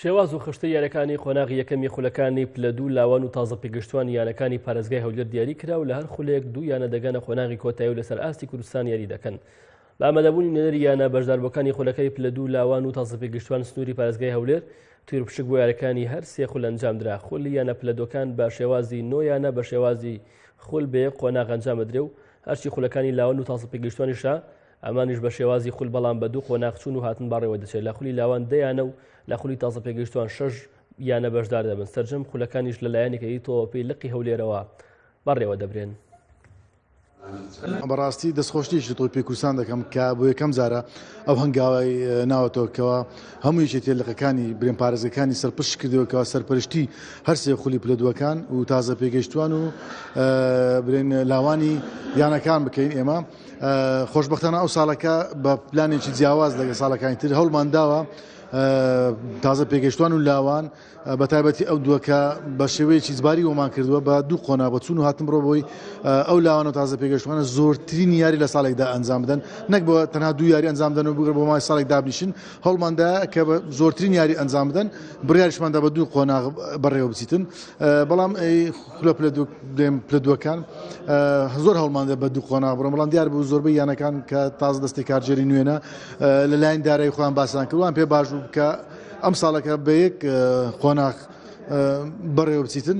شێواز و خشتەی یانەکانی قۆناغی یەکەمی خولەکانی پلە دوو لاوان و تازە پێگەشتووان یانەکانی پارێزگای هەولێر دیاری کرا و لە هەر خولێک دوو یانە دەگەنە قۆناغی کۆتایی و لەسەر ئاستی کوردستان یاری دەکەن بە ئامادەبوونی نوێنەری یانە بەشداربووەکانی خولەکەی پلە دوو لاوان و تازە پێگەشتووان سنووری پارێزگای هەولێر تویر پشک بۆ یارەکانی هەر سێ خول ئەنجامدرا خولی یانە پلەدۆکان بە شێوازی نۆ یانە بە شێوازی خول بێ قۆناغ ئەنجامەدرێ و هەرچی خولەکانی لاوان و تازە پێگەشتوانیشە ئەمانیش بە شێوازی خول بەڵام بە دوو قۆناغ چوون و هاتن بەڕێوە دەچێت لە خولی لاوان دەیانە و لە خولی تازە پێگەیشتوان شەش یانە بەشدار دەبن سەرجەم خولەکانیش لە لایەنێکی تۆپی لقی هەولێرەوە بەڕێوە دەبرێن. بەڕاستی دەستخۆشتێکی تۆ پێکوسان دەکەم کە بۆ یەکەم جارە ئەو هەنگاوای ناوەتەوەکەوە هەموو یەکێتی لەقەکانی برێن پارێزگەکانی سەرپشت کردەوەکەەوە سەرپەرشتی هەرسێ خولی پلە دووەکان و تازە پێگەشتوان و برێن لاوانی یانەکان بکەین ئێمە خۆشبەختانە ئەو ساڵەکە بە پلانێکی جیاواز لەگە ساڵەکانی تر هەڵمان داوە تازە پێگەشتوان و لاوان بە تایبەتی ئەو دووەکە بە شێوەیەکی زباری ومان کردووە بە دوو قۆنا بە چون و هاتم ڕۆبووی ئەو لاوان و تازە پێگەشتوانە زۆرترین یاری لە ساڵێکدا ئەنجام بدەن نەک بۆ تەنها دوو یاری ئەنجام دەن و بگەر بۆ مای ساڵێک دابنیشن هەڵماندا کە زۆرترین یاری ئەنجام بدەن بڕارشماندا بە دوو قۆنا بەڕێوە بچیتن بەڵام خولە پلە دوو دێم پلە دووەکان زۆر هەڵماندە بە دوو قۆنا بڕۆم بەڵام دیار بوو زۆربەی یانەکان کە تاز دەستی کارجێری نوێنە لەلایەن دارایی خۆیان باسان کردوان پێ باش بوو کە ئەم ساڵەکە بە یەک قۆناخ بەڕێوە بچیتن.